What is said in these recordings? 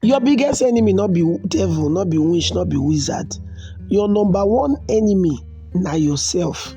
Your biggest enemy no be devil, no be witch, no be wizard. Your number one enemy na yourself.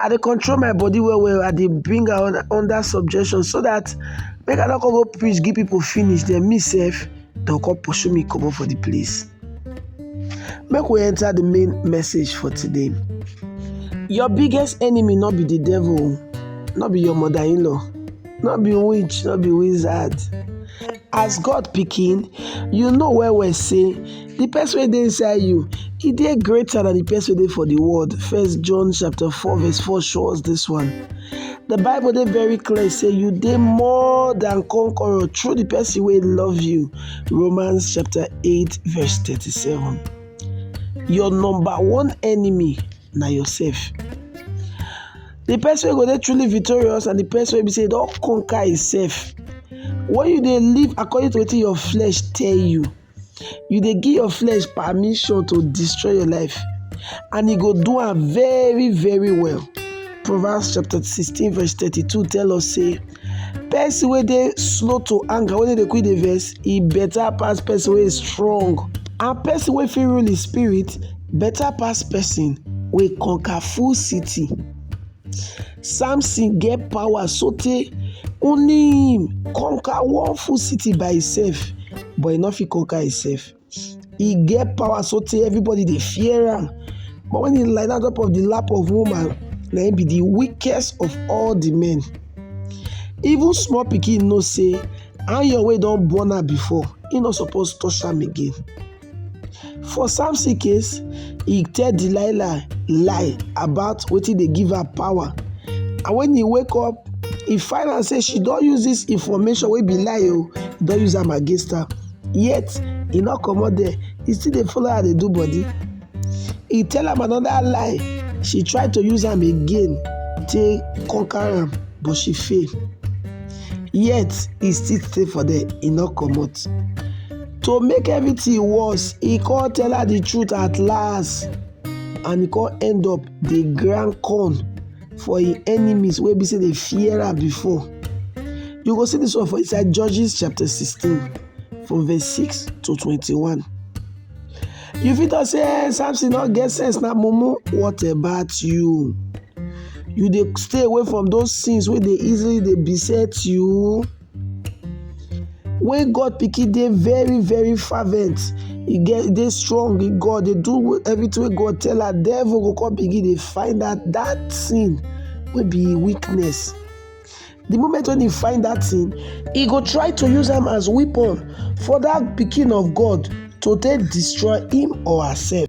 I dey control my body well well, I dey bring am un- under subjection so dat make I no come go preach give pipu finish den me sef dem come pursue me comot for di place. Make we enter di main message for today. Your biggest enemy no be di devil o, no be your mother in-law, no be witch, no be wizard. As God pikin, you know well well sey The person wey dey inside you, e dey greater than the person wey dey for the world. First John chapter 4 verse 4 show us this one. The Bible dey very clear say you dey more than conqueror through the person wey love you. Romans chapter 8 verse 37. Your number one enemy na yourself. The person wey go dey truly victorious and the person wey be say e don conquer himself. When you dey live according to wetin your flesh tell you, you dey give your flesh permission to destroy your life and e go do am very very well proverbs chapter sixteen verse thirty-two tell us say person wey dey slow to anger wey no dey quick dey vex e better pass person wey strong and person wey fit rule his spirit better pass person wey conquer full city samson get power sotey only him conquer one full city by himself but he no fit conquer himself he get power sotey everybody dey fear am but when he lie down top of the lap of woman na him be the weakest of all the men even small pikin know say iron wey don burn am before he no suppose touch am again For Samson case, he tell Delilah lie about wetin dey give her power and when he wake up, he find out say she don use this information wey be lie o, oh, he don use am against her. Yet, he no comot there, he still dey follow her dey do body. He tell am another lie, she try to use am again take conquer am but she fail. Yet, he still stay for there, he no comot. To make everything worse, he come tell her the truth at last and he come end up dey grind corn for him enemies wey be say dey fear am before. You go see this one for inside Judges chapter 16 from verse 6 to 21. You fit talk say eh, Samson no get sense na mumu. What about you? You dey stay away from those things wey dey easily dey beset you? When God pikin dey very very fervent, e get dey strong in God, dey do everything wey God tell am, devil go come begin dey find out that thing wey be im weakness. The moment when he find that thing, he go try to use am as weapon for that pikin of God to take destroy him or herself.